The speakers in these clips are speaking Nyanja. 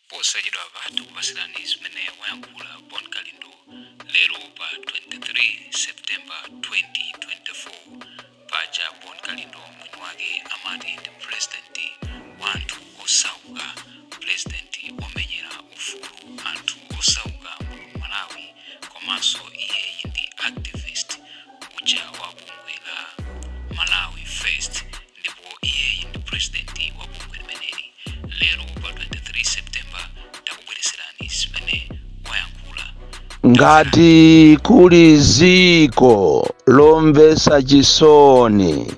posachedwapa tikupasirani zimene wayankhula bon kalindo lero pa 23 september 2024 paja bon kalindo mwini wake amati ndi purezidenti wa anthu osauka purezidenti omenyera ufulu anthu osauka muno malawi komanso iyeyi ndi activist uja wa bungwe la malawi first ndipo iyeyi ndi purezidenti wa bungwe limeneli lero pa 23 septemba takubwereserani zimene wayankhula ngati kuli ziko lomvesa chisoni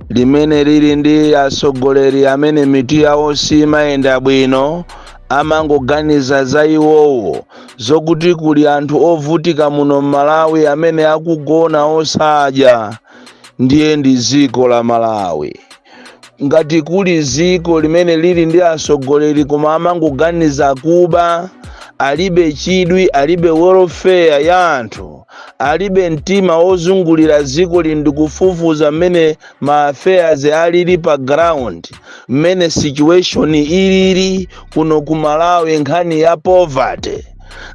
limene lili ndi atsogoleri amene mitu yawo simayenda bwino amangoganiza za iwowo zokuti kuli anthu ovutika muno m'malawi amene akugona osadya ndiye ndi dziko la malawi ngati kuli dziko limene lili ndi atsogoleri koma amangoganiza kuba alibe chidwi alibe welfare ya anthu alibe mtima wozungulira dziko lino ndi kufufuza mmene ma affairs alili pa ground mmene situation ilili kuno ku malawi nkhani ya poverty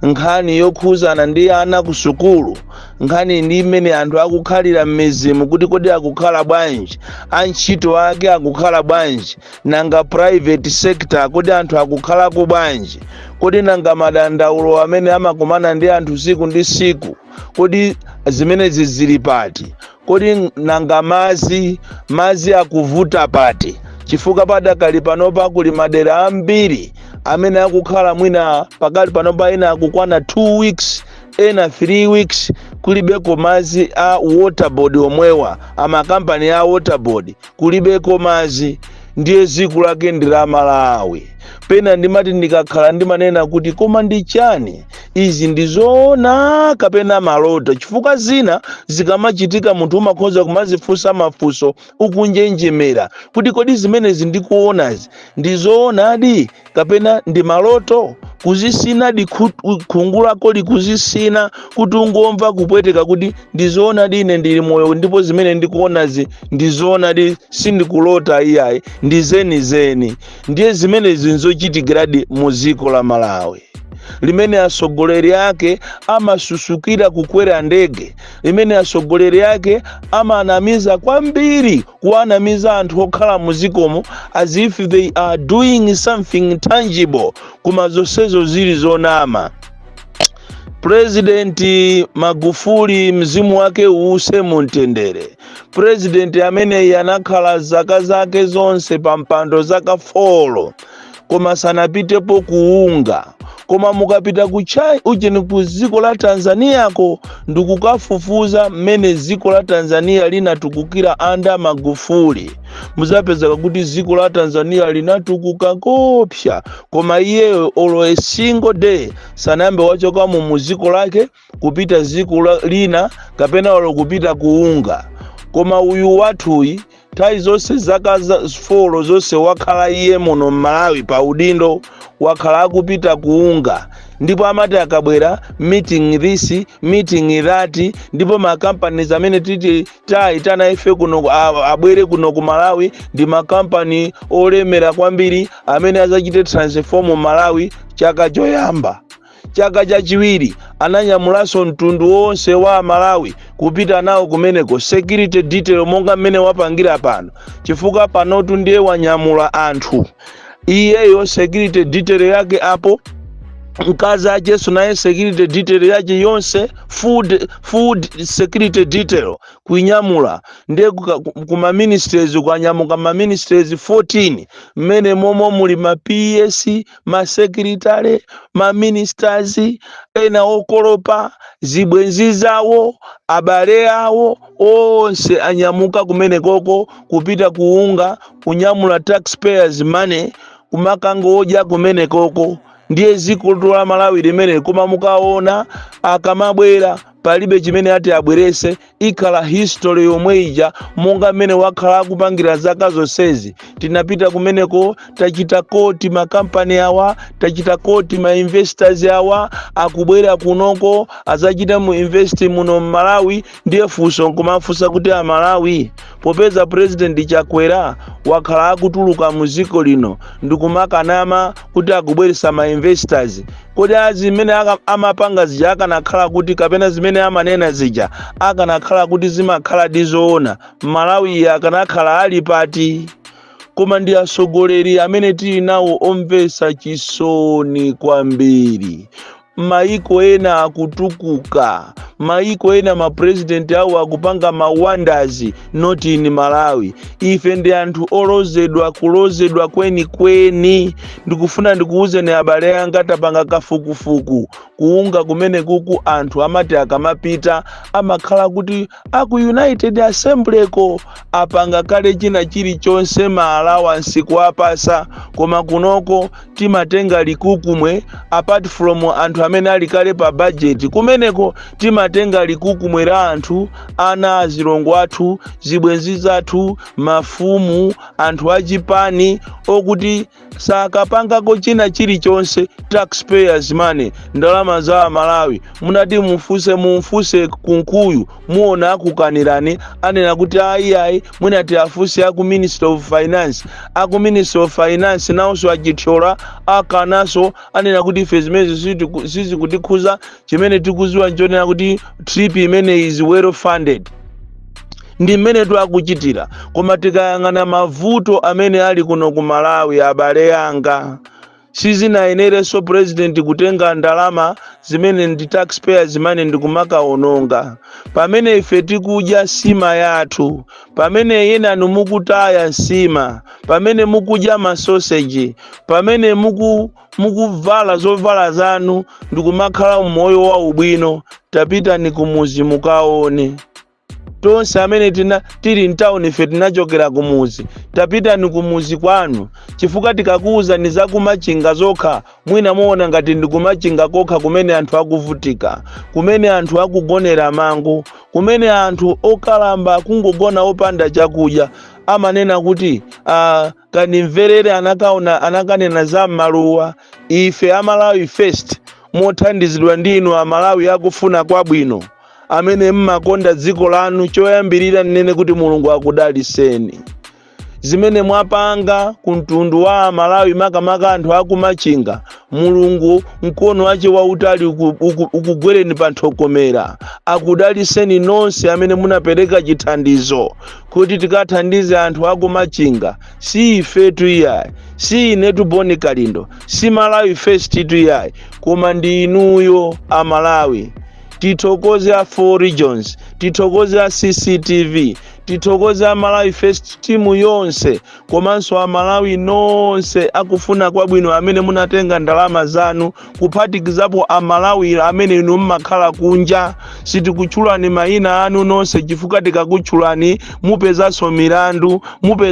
nkhani yokhuzana ndi ana ku sukulu nkhani ndi mmene anthu akukhalira m'mizimu kuti kodi akukhala bwanji antchito ake akukhala bwanji nanga private sector kodi anthu akukhalako bwanji kodi nanga madandaulo amene amakumana ndi anthu siku ndi siku kodi zimenezi zili pati kodi nanga madzi madzi akuvuta pati chifukwa padakali panopa kuli madera ambiri amene akukhala mwina pakali panopa ena akukwana 2 weeks ena 3 weeks kulibeko madzi a waterboard omwewa amakampani a waterboard kulibeko madzi ndiye dziko lake ndi la malawi pena ndimati ndikakhala ndimanena kuti koma ndi chani izi ndi zoona kapena maloto chifukwa zina zikamachitika munthu umakhoza kumazifunsa mafunso ukunjenjemera kuti kodi zimenezi ndikuonazi ndi zoonadi kapena ndi maloto kuzisina di khungu lakodi kuzisina kuti ungomva kupweteka kuti ndizoonadi ine ndili moyo ndipo zimene ndikuonazi ndizoonadi sindikulota iyayi ndi zenizeni ndiye zimenezi nzochitikadi mu dziko la malawi limene atsogoleri ake amasusukira kukwera ndege limene atsogoleri ake amanamiza kwambiri kuwanamiza anthu okhala muzikomo as if they are doing something tangible koma zonsezo zili zonama purezidenti magufuli mzimu wake uuse mumtendere purezidenti ameneyi anakhala zaka zake zonse pa mpando zaka folo koma sanapitepo kuunga koma mukapita ku chani ujeni ku dziko la tanzaniyako ndikukafufuza mmene dziko la tanzaniya linatukukira under magufuli muzapezeka kuti dziko la tanzaniya linatukuka kopsa koma iyeyo olo a single day sanayambe wachokamo mu dziko lake kupita dziko la- lina kapena olo kupita kuunga koma uyu wathuyi nthawi zonse zaka za- folo zonse wakhala iye muno mmalawi pa udindo wakhala akupita kuunga ndipo amati akabwera meeting this meeting that ndipo makampani amene titi taitana ife kuno ku- a- abwere kuno ku malawi ndi makampani olemera kwambiri amene azachite transform malawi chaka choyamba Chaka chachiwiri ananyamulanso mtundu wonse wa Amalawi kupita nawo kumeneko, security detail monga mmene wapangira pano, chifukwa panotu ndiye wanyamula anthu iyeyo security detail yake apo mkazi acheso naye security detail yache yonse food, food security detail kuinyamula ndiye kuka- ku- kuma ministries kwanyamuka ma ministries 14 mmene momo muli ma ps masekilitale, maministers, ena okolopa, zibwenzi zawo, abale awo, onse anyamuka kumenekoko kupita kuunga, kunyamula taxpayers money, kumakangowoja kumenekoko. Ndiye dzikolotu la Malawi limeneli, koma mukaona akamabwera palibe chimene ati abwerese. ikhala history yomwe ija monga mmene wakhala akupangira zaka zonsezi tinapita kumeneko tachita koti makampani awa tachita koti ma investors awa akubwera kunoko azachita mu invest muno mmalawi ndiye funso nkumafunsa kuti amalawi popeza president chakwera wakhala akutuluka mu dziko lino ndikumakanama kuti akubweresa ma investors kodi a zimene aka- amapanga zija akanakhala kuti kapena zimene amanena zija akanakhala kuti zimakhala ndi zoona malawiyu akanakhala ali pati koma ndi atsogoleri amene tili nawo omvetsa chisoni kwambiri maiko ena akutukuka maiko ena mapurezidenti awo akupanga mawandazi not in malawi ife ndi anthu olozedwa kulozedwa kwenikweni ndikufuna ndikuwuzeni abale anga tapanga kafukufuku kuunga kumenekuku anthu amati akamapita amakhala kuti aku united assemblyko apanga kale china chilichonse maalawansi kuwapasa koma kunoko timatenga likukumwe apart from anthu amene ali kale pa budget kumeneko timatenga likukumwe la anthu ana azilongo athu zibwenzi zathu mafumu anthu achipani okuti sakapangako china chilichonse taxpayers money ndalama za amalawi munati mumfuse mumfuse kunkuyu muona akukanirani anena kuti ayi ayi mwina tiafunse aku ministry of finance aku ministry of finance nawonso achithyola akananso anena kuti ife zimenezo sizikutikhuza chimene tikuziwa nchonena kuti trip imene is well funded ndi mmene twakuchitira koma tikayang'ana mavuto amene ali kuno ku malawi abale anga Sizinayenerenso president kutenga ndalama zimene ndi tax payers money ndikumakaononga pamene ife tikudya sima yathu, pamene enanu mukutaya nsima, pamene mukudya ma sausage, pamene mukuvala zovala zanu ndikumakhala umoyo waubwino. Tapitani kumuzi mukaone. tonse amene tili mtawuni ife tinachokera kumuzi tapitani kumuzi kwanu chifukwa tikakuwuzani za kumachinga zokha mwina muona ngati ndi kumachinga kokha kumene anthu akuvutika kumene anthu akugonera mango kumene anthu okalamba akungogona opanda chakudya amanena kuti uh, kandimverere anakanena za maluwa ife a malawi first mothandizidwa ndi inu a malawi akufuna kwabwino amene mmakonda dziko lanu choyambirira nnene kuti mulungu akudaliseni zimene mwapanga ku mtundu wa amalawi makamaka anthu akumachinga mulungu mkono wache wautali ukugwereni pa nthokomera akudaliseni nonse amene munapereka chithandizo kuti tikathandize anthu akumachinga si ifetu iyayi si inetu bon kalindo si malawi first tu iyayi koma ndi inuyo amalawi tithokoze a four regions tithokoze a cctv tithokoze a malawi first timu yonse komanso amalawi nonse akufuna kwabwino amene munatenga ndalama zanu kuphatikizapo amalawi amene inu mmakhala kunja sitikutchulani mayina anu nonse chifukwa tikakutchulani mupezanso milandu,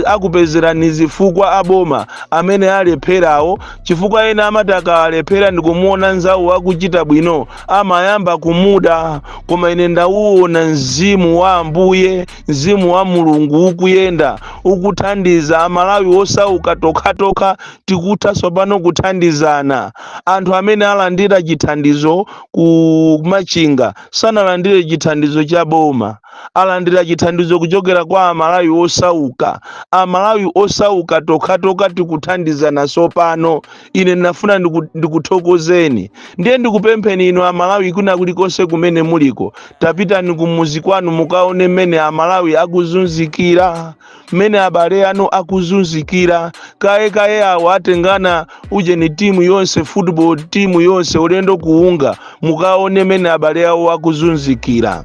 akupezerani zifukwa aboma amene alepherawo chifukwa ena amati akalephera ndikumuona nzawo akuchita bwino amayamba kumuda koma ine ndauona mzimu wa ambuye Mzimu wa Mulungu ukuyenda ukuthandiza Amalawi osauka tokhatokha tikutha tsopano kuthandizana. Anthu amene alandira chithandizo ku Machinga sanalandire chithandizo cha boma. Alandira chithandizo kuchokera kwa Amalawi osauka. Amalawi osauka tokhatokha tikuthandizana tsopano. ine ndinafuna ndiku- ndikuthokozeni ndiye ndikupempheni inu amalawi kwina kulikonse kumene muliko tapitani kumuzi kwanu mukaone mmene amalawi akuzunzikira mmene abale anu akuzunzikira koma awo awo atengana ujeni timu yonse football timu yonse ulendo ku UNGA mukaone mmene abale awo akuzunzikira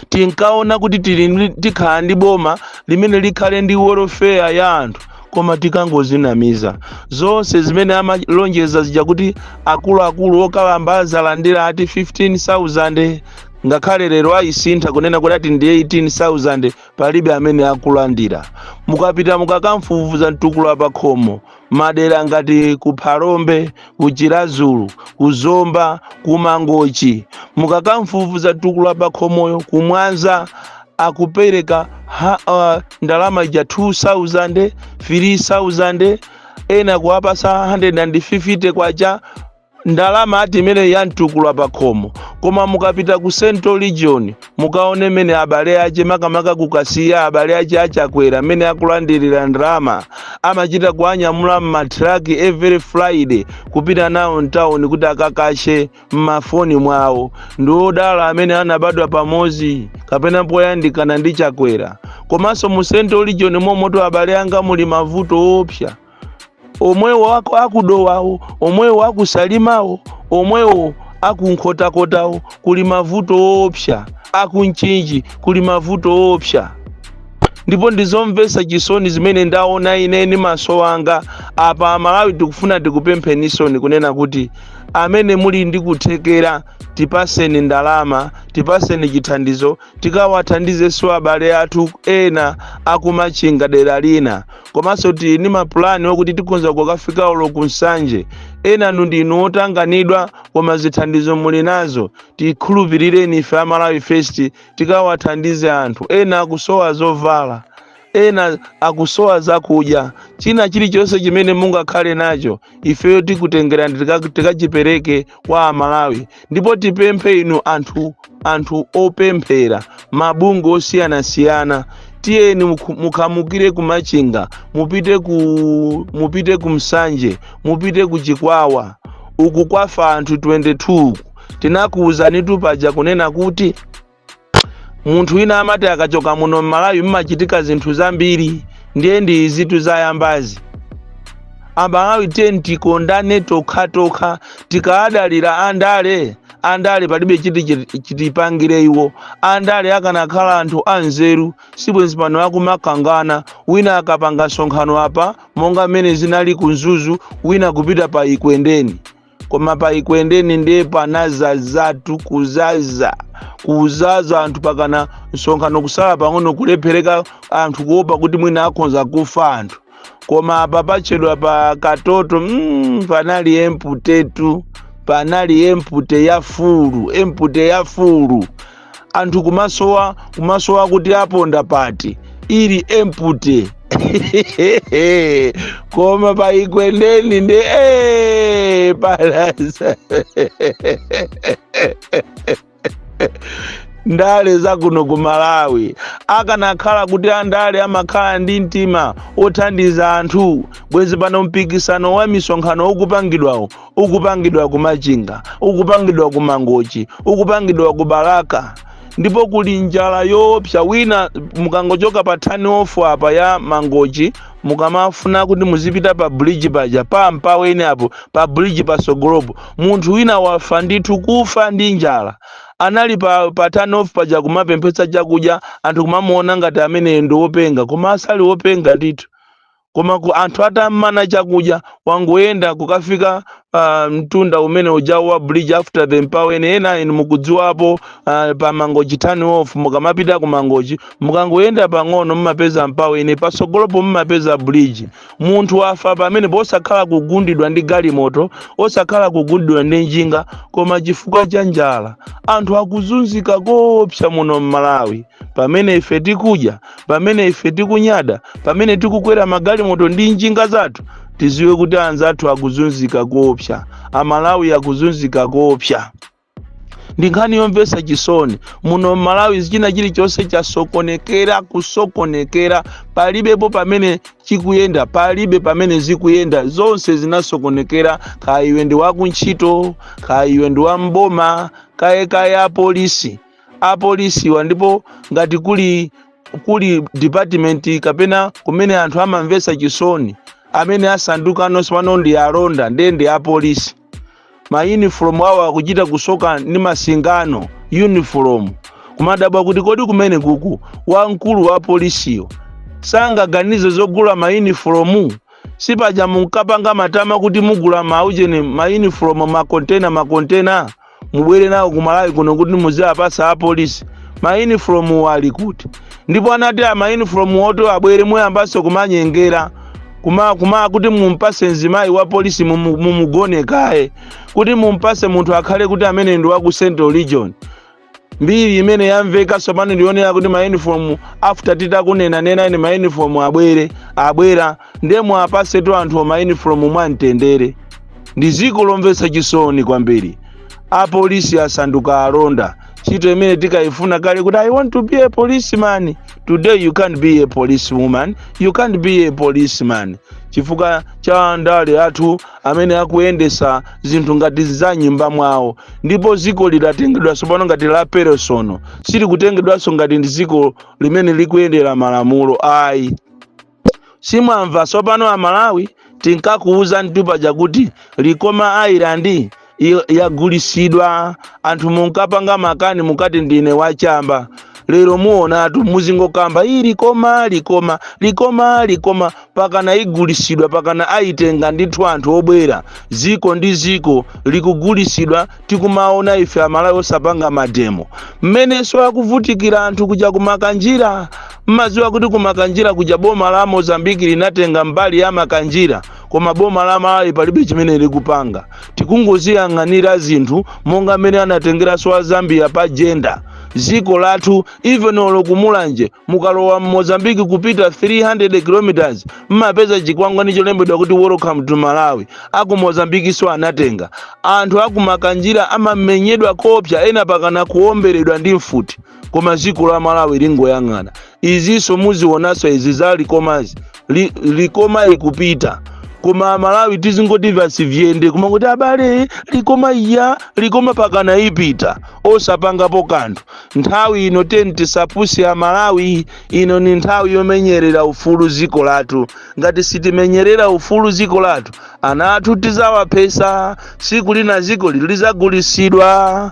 tinkaona kuti tili ndi- tikhala ndi boma limene likhale ndi welfare ya anthu koma tikangozinamiza zonse zimene amalonjeza zija kuti akuluakulu okalamba azalandira ati 15000 ngakhale lero ayisintha kunena kuti ati ndi 18000 palibe amene akulandira mukapita mukakamfufuza mtukula pakhomo madera ngati ku phalombe ku chiradzulu ku zomba ku mangochi mukakamfufuza mtukula pakhomoyo ku mwanza akupereka ha, uh, ndalama ija 2000 3000 ena kuwapasa 150 kwacha ndalama ati imene ya mtukula pakhomo koma mukapita ku central region mukaone mmene abale ache makamaka ku kasiya abale ache a chakwera mmene akulandirira ndalama amachita kuanyamula m'matraki every friday kupita nawo mtawuni kuti akakashe m'mafoni mwawo ndi odala amene anabadwa pamodzi kapena poyandikana ndi chakwera komanso mu central region momomo abale anga muli mavuto oopsa omwewo aku- akudowawo omwewo akusalimawo omwewo akunkhotakotawo kuli mavuto oopsa akumchinji kuli mavuto oopsa ndipo ndizomvetsa chisoni zimene ndaona ine ndi maso anga apa amalawi tikufuna tikupempheninsoni kunena kuti amene muli ndi kuthekera tipaseni ndalama tipaseni chithandizo tikawathandizenso abale athu ena akumachinga dera lina komanso tili ndi mapulani akuti tikhonza kukafikanso ku nsanje enanu ndinu otanganidwa koma zithandizo muli nazo tikhulupirireni ife a malawi first tikawathandize anthu ena akusowa zovala ena akusowa zakudya china chilichonse chimene mungakhale nacho ifeyo tikutengerani tika- tikachipereke kwa amalawi ndipo tipemphe inu anthu anthu opemphera mabungwe osiyanasiyana tiyeni mukhu- mukhamukire ku machinga mupite ku mupite ku nsanje mupite ku chikwawa uku kwafa anthu 22 tinakuwuzanitu paja kunena kuti munthu wina amati akachoka muno mmalawi mmachitika zinthu zambiri ndiye ndi izitu zayambazi amalawi tiyeni tikondane tokhatokha tikadalira andale andale palibe chiti chiti- chitipangire iwo andale akanakhala anthu anzeru sibwenzi pano akumakangana wina akapanga msonkhano apa monga mmene zinali ku mzuzu wina kupita pa ikwendeni koma pa ikwendeni ndiye panazazatu kuzaza kuzaza anthu mpakana msonkhano kusala pang'ono kulephereka anthu kuopa kuti mwina akhonza kufa anthu koma apa patchedwa pa katoto mm, panali emputetu panali empute ya fulu empute ya fulu anthu kumasowa kumasowa kuti aponda pati ili empute koma pa ikwendeni ndi eh, palasa ndale za kuno ku malawi akanakhala kuti andale amakhala ndi mtima othandiza anthu bwezi pano mpikisano wa misonkhano ukupangidwawo ukupangidwa ku machinga ukupangidwa ku mangochi ukupangidwa ku balaka ndipo kuli njala yoopsa wina mukangochoka pa turn off apa ya mangochi mukamafuna kuti muzipita pa bridge paja pa mpaweni apo pa bridge pasogolopo munthu wina wafa ndithu kufa ndi njala anali pa, pa turn off paja kumapemphetsa chakudya anthu kumamuona ngati ameneyo ndi wopenga koma asali wopenga ndithu koma ku anthu atam'mana chakudya wangoyenda kukafika ah, mtunda umene ujawu wa bridge after the mpaweni ena inu mukudziwapo ah, pa mangochi turn off mukamapita ku mangochi mukangoyenda pang'ono mumapeza mpaweni patsogolopo mumapeza bridge munthu wafa pamenepo osakhala kugundidwa ndi galimoto osakhala kugundidwa ndi njinga koma chifukwa cha njala anthu akuzunzika koopsa muno m'malawi pamene ife tikudya pamene ife tikunyada pamene tikukwera magalimoto ndi njinga zathu tiziwe kuti anzathu akuzunzika koopsa amalawi akuzunzika koopsa ndi nkhani yomvetsa chisoni muno mmalawi china chilichonse chasokonekera kusokonekera palibepo pamene chikuyenda palibe pamene zikuyenda zonse zinasokonekera kaya iwe ndi wakuntchito kaya iwe ndi wamboma kaye kaye apolisi apolisiwa ndipo ngati kuli department kapena kumene anthu amamvetsa chisoni amene asanduka anonso pano ndi alonda ndiye ndi apolisi mayunifomu awo akuchita kusoka ndi masingano yunifomu kumadabwa kuti kodi kumene kuku wamkulu wa polisiyo sangaganize zogula mayunifomu sipaja munkapanga matama kuti mugula maujeni mayunifomu makontena makontena mubwere nawo ku malawi kuno kuti muziwapasa apolisi mayunifomuwo ali kuti ndipo anati a mayunifomu oti abwere muyambanso kumanyengera kuma kuma kuti mumpase mzimayi wa polisi mumu- mumugone kaye kuti mumpase munthu akhale kuti amene ndi wa ku central region mbiri imene yamveka sopano ndi yonena kuti mayunifomu after titakunena nena ine mayunifomu abwere abwera ndiye muwapasetu anthuwo mayunifomu mwamtendere ndi dziko lomvetsa chisoni kwambiri apolisi asanduka alonda ntchito imene tikayifuna kale kuti i want to be a policeman today you can't be a policewoman you can't be a policeman chifukwa cha andale athu amene akuyendesa zinthu ngati za mnyumba mwawo ndipo dziko lidatengedwa sopano ngati la personal silikutengedwanso ngati ndi dziko limene likuyendera malamulo ayi simwamva sopano amalawi tinkakuuzanitu paja kuti likoma island i- yagulisidwa anthu munkapanga makani mukati ndine wachamba lero muonatu muzingokamba iyi likoma likoma likoma likoma pakana igulisidwa pakana ayitenga ndithu anthu obwera ziko ndi ziko likugulisidwa tikumaona ife amalawi osapanga mademo mmenenso akuvutikira anthu kuja ku makanjira Mmadziwa kuti ku Makanjira kuja boma la Mozambique linatenga mbali ya Makanjira koma boma la Malawi palibe chimene likupanga. Tikungoziyang'anira zinthu monga mmene anatengeranso a Zambia pa Jenda. Dziko lathu even olo ku Mulanje mukalowa m'Mozambique kupita 300 kilometers mmapeza chikwangwani cholembedwa kuti welcome to Malawi. Aku Mozambiqueso anatenga. Anthu aku Makanjira amamenyedwa koopsa ena pakana kuomberedwa ndi mfuti. koma dziko la malawi lingoyang'ana izinso muzionaso izi za likomazi Li- likoma ikupita koma amalawi tizingoti vasi vyende koma kuti abale likoma iya likoma pakana ipita osapangapo kanthu nthawi ino teni tisapusi amalawi ino ni nthawi yomenyerera ufulu ziko lathu ngati sitimenyerera ufulu ziko lathu ana athu tizawaphesa siku lina ziko ili lizagulisidwa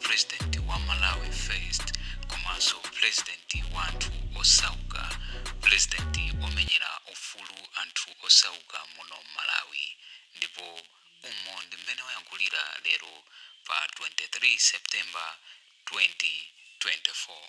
president wa malawi first komanso president wa anthu osauka president omenyera ufulu anthu osauka muno malawi ndipo umo ndi mmene wayankhulira lero pa 23 september 2024